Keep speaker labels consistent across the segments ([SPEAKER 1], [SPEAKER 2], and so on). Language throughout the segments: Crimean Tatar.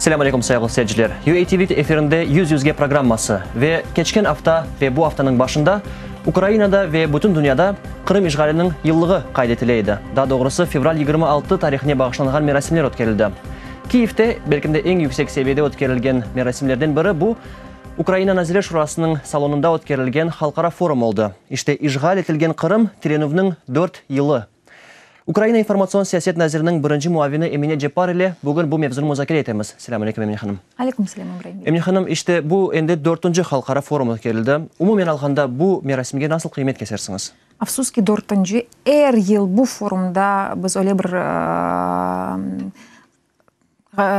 [SPEAKER 1] Selam aleyküm sayıglı seyirciler. UA TV efirinde Yüz Yüzge programması ve keçken afta ve bu aftanıñ başında Ukrainada ve bütün dünyada Qırım işğaliniñ yıllığı qayd etile edi. Daa doğrusı fevral yigirmi altı tarihine bağışlanğan merasimler ötkerildi. Kiyevde belki de eñ yüksek seviyede ötkerilgen merasimlerden biri bu, Ukraina Nazirler Şurasınıñ salonında ötkerilgen halqara forum oldı. İşte işğal etilgen Qırım tirenüvniñ dört yılı. Ukraina informatsion siyaset naziriniñ birinci muavini Emine Ceppar ile bugün bu mevzunı muzakere etemiz. Selâm aleykum, Emine hanım. Aleykum selâm, İbrahim bey. Emine
[SPEAKER 2] hanım, işte bu
[SPEAKER 1] endi dörtünci halqara forum ötkerildi. Umumen alğanda, bu merasimge nasıl qıymet kesersiñiz? Afsus ki, dörtünci.
[SPEAKER 2] Er yıl bu forumda biz öyle bir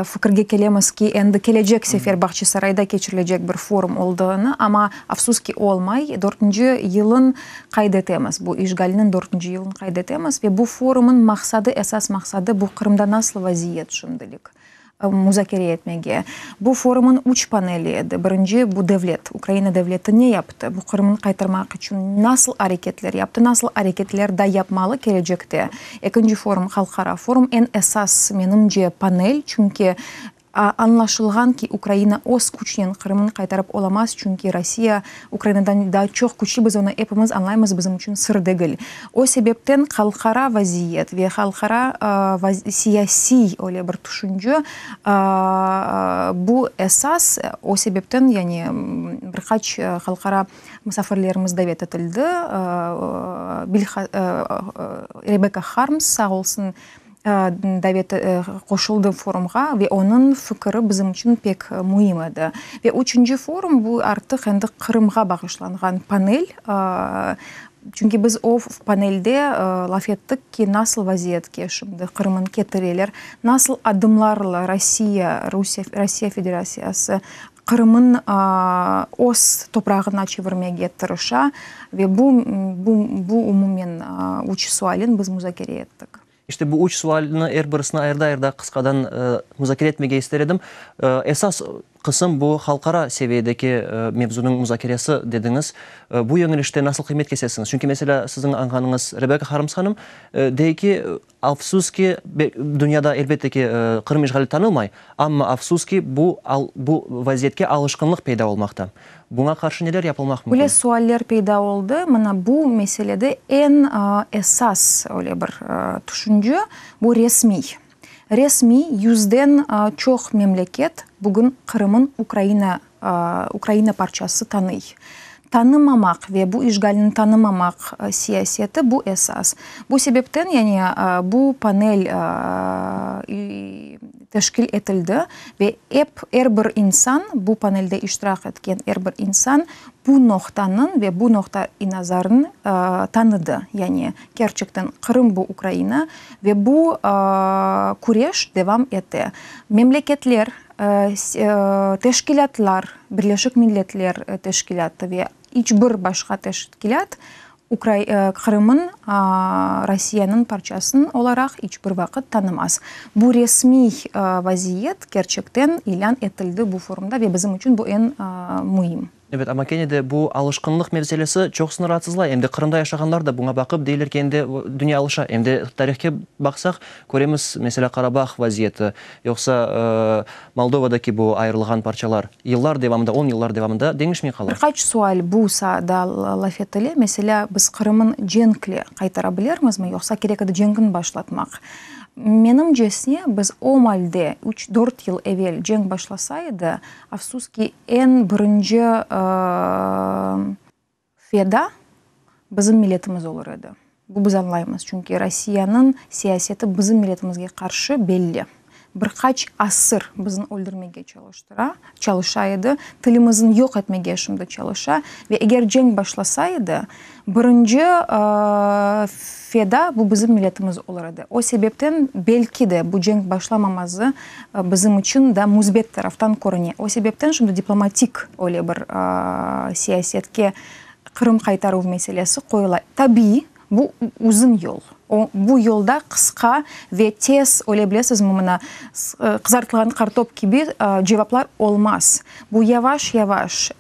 [SPEAKER 2] fikirge kelemiz ki, endi kelecek sefer Bağçasarayda keçirilecek bir forum olduğını, amma, afsus ki, olmay. Dörtünci yılın qayd etemiz, bu işğalniñ dörtünci yılın qayd etemiz ve bu forumnıñ maqsadı, esas maqsadı, bu Qırımda nasıl vaziyet şimdilik, muzakere etmege. Bu forumnıñ üç paneli edi, birinci, bu devlet, Ukraina devleti ne yaptı, bu Qırımnı qaytarmaq içün nasıl areketler yaptı, nasıl areketler daa yapmalı kelecekte, Ekinci forum, halqara forum, eñ esas, menimce, panel, çünki añlaşılğan ki, Ukraina öz küçnen Qırımnı qaytarıp olamaz, çünki Rossiya Ukrainadan daa çoq küçlü, biz onı epimiz añlaymız, bizim içün sır degil. O sebepten halqara vaziyet ve halqara siyasiy öyle bir tüşünce, bu esas, o sebepten, yani bir qaç halqara Musafirlerimiz davet etildi. Rebekka Harms sağ olsun davet qoşuldı forumğa ve onıñ fikiri bizim içün pek müim edi. Ve üçünci forum bu artıq endi Qırımğa bağışlanğan panel. Çünki biz o panelde laf ettik ki, nasıl vaziyetke şimdi Qırımnı ketireler, nasıl adımlarla Rusiye Federatsiyası Qırımın öz toprağına çevirmege tırışa ve bu bu umumen üç sualin biz muzakere ettik. İşte bu üç
[SPEAKER 1] sualni er birisini ayırda-ayırda qısqadan muzakere etmege ister edim. Esas qısım bu halqara seviyedeki mevzunıñ muzakeresi dediñiz. Bu yöñelişte nasıl qıymet kesesiñiz? Çünki, meselâ, siziñ añğanıñız Rebeka Harms hanım dey ki, Afsus ki, dünyada, elbette ki, Qırım işğali tanımay, amma afsus ki, bu bu vaziyetke alışqınlıq peyda olmaqta. Buña qarşı neler yapılmaq mümkün? Öyle sualler peyda
[SPEAKER 2] oldı, mına bu meselede eñ esas öyle bir tüşünce, bu resmiy. Resmiy yüzden çoq memleket bugün Qırım'ın Ukraina Ukraina parçası tanıy. Tanımamaq ve bu işğalni tanımamaq siyaseti, bu esas. Bu sebepten, yani bu panel teşkil etildi ve ep er bir insan, bu panelde iştirak etken er bir insan bu noqtanıñ ve bu noqta-i-nazarnı tanıdı. Yani kerçekten Qırım bu Ukraina ve bu küreş devam ete. Memleketler Teşkilâtlar, Birleşik Milletler Teşkilâtı ve iç bir başqa teşkilât Qırımnı Rusiyeniñ parçası olaraq iç bir vaqıt tanımaz. Bu resmiy vaziyet kerçekten ilân etildi bu forumda ve bizim içün bu eñ müim. Ebet, amma kene de
[SPEAKER 1] bu alışqınlıq meselesi çoq sını raatsızlay. Em de Qırımda yaşağanlar da buña baqıp, deyler ki, em de dünya alışa. Em de tarihke baqsaq, köremiz, meselâ, Qarabağ vaziyeti, yoqsa Moldovadaki bu ayırılğan parçalar yıllar devamında, on yıllar devamında deñişmey qala. Bir qaç sual bu
[SPEAKER 2] saada laf etile, meselâ, biz Qırımın cenkle qaytara bilermizmi, yoqsa kerek edi cenkni başlatmaq? Menimcesine, biz o malde üç, dört yıl evel cenk başlasa edi, Afsus ki, eñ birinci feda bizim milletimiz olur edi. Bu biz añlaymız, çünki Rossiyanıñ siyaseti bizim milletimizge qarşı belli. Bir qaç asır bizni öldürmege çalıştıra, çalışa edi, tilimizni yoq etmege şimdi çalışa ve eger cenk başlasa edi, Birinci feda bu bizim milletimiz olur edi. O sebepten belki de bu cenk başlamaması bizim içün daa müsbet taraftan körüne. O sebepten şimdi diplomatik öyle bir siyasetke Qırım qaytaruv meselesi qoyula. Tabiiy, bu uzun yol. Bu yolda qısqa ve tez, öyle bilesizmi, mına, qızartılğan qartop kibi cevaplar olmaz. Bu yavaş-yavaş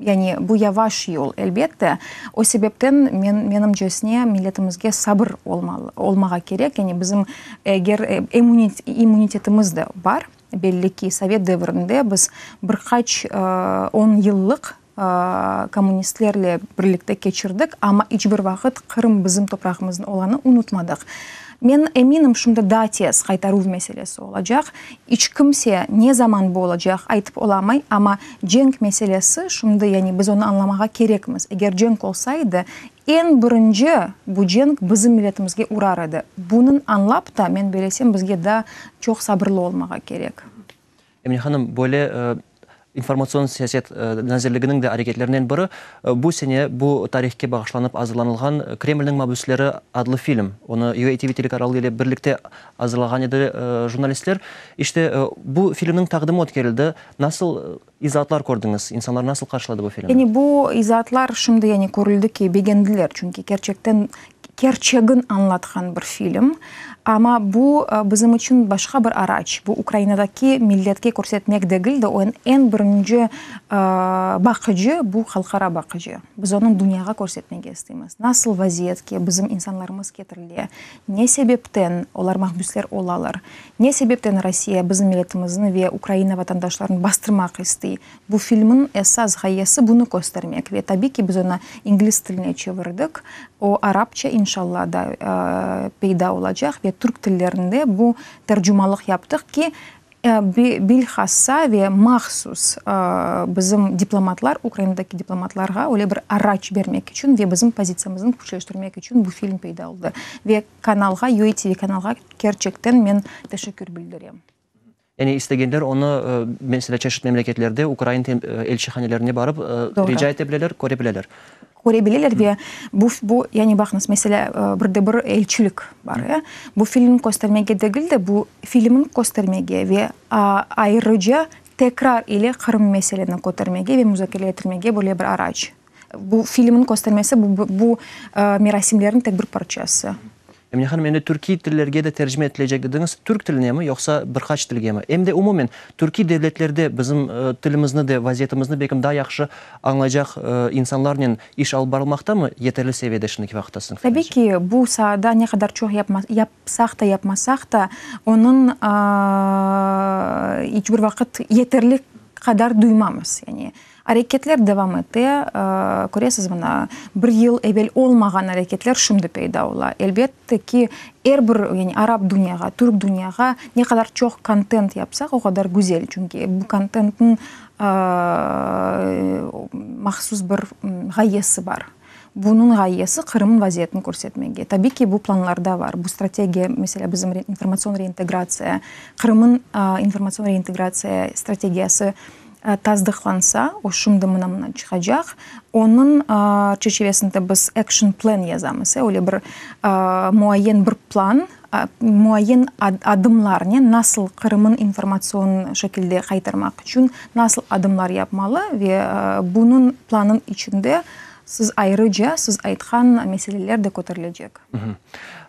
[SPEAKER 2] Yani bu yavaş yol, elbet de. O sebepten men, menimcesine, milletimizge sabır olmalı, olmağa kerek. Yani bizim eger emunit, immunitetimiz de bar, belli ki, sovet devirinde biz bir qaç on yıllıq kommunistlerle birlikte keçirdik, amma iç bir vaqıt Qırım bizim toprağımızın olanı unutmadıq. Men eminim, şimdi daa tez qaytaruv meselesi olacaq. İç kimse ne zaman bu olacaq, aytıp olamay, amma cenk meselesi şimdi, yani biz onı añlamağa kerekmiz. Eger cenk olsa edi, eñ birinci bu cenk bizim milletimizge urar edi. Bunıñ añlap ta, men belesem, bizge daa çoq sabırlı olmağa kerek. Emine hanım,
[SPEAKER 1] böyle İnformatsion siyaset nazirliginiñ de areketlerinen biri, bu sene bu tarihke bağışlanıp azırlanılğan Kremlniñ mabüsleri adlı film. Onı UATV telekanalı ile birlikte azırlağan edi jurnalistler. İşte, bu filmniñ taqdimi ötkerildi. Nasıl izaatlar kördiñiz? İnsanlar nasıl qarşıladı bu filmni? Yani bu izaatlar
[SPEAKER 2] şimdi körüldi ki, begendiler. Çünki kerçekten Kerçegin añlatqan bir film. Amma bu bizim içün başqa bir araç. Bu Ukrainadaki milletke körsetmek degil de, o eñ birinci baqıcı, bu halqara baqıcı. Biz onı dünyağa körsetmege isteymiz. Nasıl vaziyetke bizim insanlarımız ketirile, ne sebepten olar mahbüsler olalar, ne sebepten Rossiya bizim milletimizni ve Ukraina vatandaşlarını bastırmaq istey. Bu filmniñ esas ğayesi bunı köstermek ve tabiy ki, biz onı ingliz tiline çevirdik. O arapça, inşalla, da peyda olacaq ve türk tillerinde bu tercumalıq yaptıq ki, bilhassa ve mahsus bizim diplomatlar, Ukrainadaki diplomatlarğa öyle bir araç bermek içün ve bizim pozitsiyamıznı küçleştirmek içün bu film peyda oldı. Ve kanalğa, UATV kanalğa kerçekten men teşekkür bildirem. Yani
[SPEAKER 1] istegenler onı, meselâ, çeşit memleketlerde ukrain elçihanelerine barıp rica ete bileler, köre bileler. Köre bileler ve
[SPEAKER 2] bu, bu, yani baqıñız, meselâ, bir de bir elçilik bar, ya, bu filmni köstermege degil de, bu filmni köstermege ve ayrıca tekrar ile Qırım meseleni kötermege ve muzakere ettirmege böyle bir araç. Bu filmniñ köstermesi, bu merasimlerniñ tek bir parçası. Emine hanım, endi
[SPEAKER 1] türkiy tillerge de tercime etilecek dediñiz. Türk tilinemi, yoqsa bir qaç tilgemi? Em de umumen, türkiy devletlerde bizim tilimizni de, vaziyetimizni belkim daa yahşı añlaycaq insanlarnen iş alıp barılmaqtamı, yeterli seviyede şimdiki vaqıtta siziñ fikriñizce? Tabiy ki, bu
[SPEAKER 2] saada ne qadar çoq yapsaq da, yapmasaq da, onıñ iç bir vaqıt yeterli qadar duymamız. Areketler devam ete, köresiz, mına, bir yıl evel olmağan areketler şimdi peyda ola. Elbette ki, er bir, yani arap dünyağa, türk dünyağa ne qadar çoq kontent yapsaq, o qadar güzel, çünki bu kontentniñ mahsus bir ğayesi bar. Bunıñ ğayesi Qırımnıñ vaziyetini körsetmege. Tabiy ki, bu planlarda bar. Bu strategiya, meselâ, bizim informatsion reintegratsiya, Qırımnıñ informatsion reintegratsiya strategiyası tasdıqlansa, o şimdi mına-mına çıqacaq, onıñ çerçivesinde biz action plan yazamız, öyle bir muayyen bir plan, Muayyen adımlarnen nasıl Qırımnı informatsion şekilde qaytarmaq içün nasıl adımlar yapmalı ve bunıñ planıñ içinde siz ayrıca siz aytqan meseleler de köterilecek.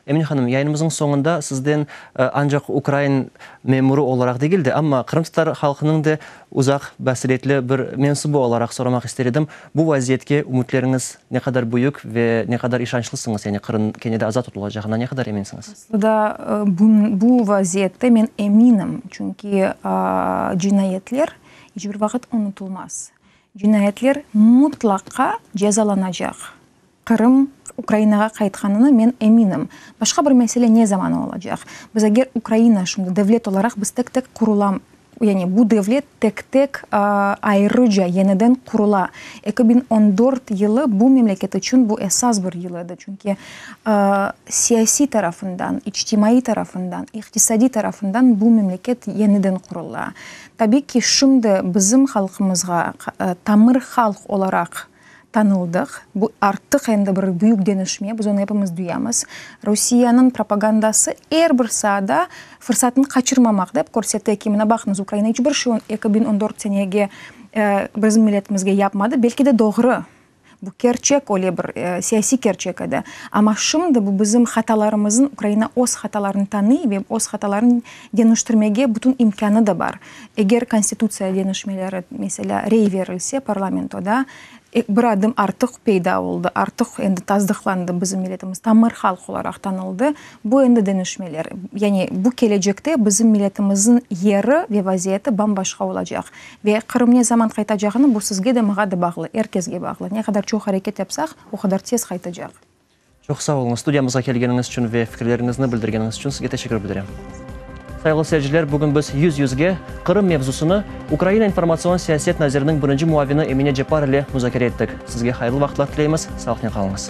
[SPEAKER 2] Emine
[SPEAKER 1] hanım, yayınımızıñ soñunda sizden ancaq ukrain memurı olaraq degil de, amma qırımtatar halqınıñ da Uzaq basiretli bir mensubu olaraq soramaq ister edim, bu vaziyetke ümütleriñiz ne qadar büyük ve ne qadar işançlısıñız, yani Qırım kene de azat tutulacağına ne qadar eminsiñiz? Aslında bu
[SPEAKER 2] vaziyette men eminim, çünki cinayetler iç bir vaqıt unutulmaz. Cinayetler mutlaqa cezalanacaq. Qırım Ukrainağa qaytqanına men eminim. Başqa bir mesele ne zaman olacaq? Biz eger Ukraina şimdi devlet olaraq biz tek-tek qurulam, yani bu devlet tek-tek ayrıca yeniden qurula. Eki biñ on dört yılı bu memleket içün bu esas bir yıl edi. Çünki siyasiy tarafından, içtimaiy tarafından, iqtisadiy tarafından bu memleket yeniden qurula. Tabii ki, şimdi bizim halqımızğa, tamır halq olaraq, tanıldıq. Bu artıq endi bir büyük denişme, biz onı epimiz duyamız. Rusiyeniñ propagandası er bir saada fırsatını qaçırmamaq dep körsete ki, mına baqıñız, Ukraina iç bir şey eki biñ on dört senege bizim milletimizge yapmadı, belki de doğru, bu kerçek, öyle bir siyasiy kerçek edi, amma şimdi bu bizim hatalarımızın, Ukraina öz hatalarını tanıy ve öz hatalarını deniştirmege bütün imkânı da bar. Eger konstitutsiya deñişmeleri, meselâ, rey berilse parlamentoda, bir adım artıq peyda oldı, artıq endi tasdıqlandı, bizim milletimiz tamır halq olaraq tanıldı. Bu endi deñişmeler. Yani bu kelecekte bizim milletimizniñ yeri ve vaziyeti bam-başqa olacaq. Ve Qırım ne zaman qaytacağını, bu sizge de, maña da bağlı, er kesge bağlı. Ne qadar çoq areket yapsaq, o qadar tez qaytacaq. Çoq sağ
[SPEAKER 1] oluñız, studiyamızğa kelgeniñiz içün ve fikirleriñizni bildirgeniñiz içün sizge teşekkür bildirem. Sayıglı seyirciler, bugün biz Yüz Yüzge, Qırım mevzusını Ukraina informatsion siyaset naziriniñ birinci muavini Emine Cepar ile muzakere ettik. Sizge hayırlı vaqıtlar tileymiz, sağlıqnen qalıñız.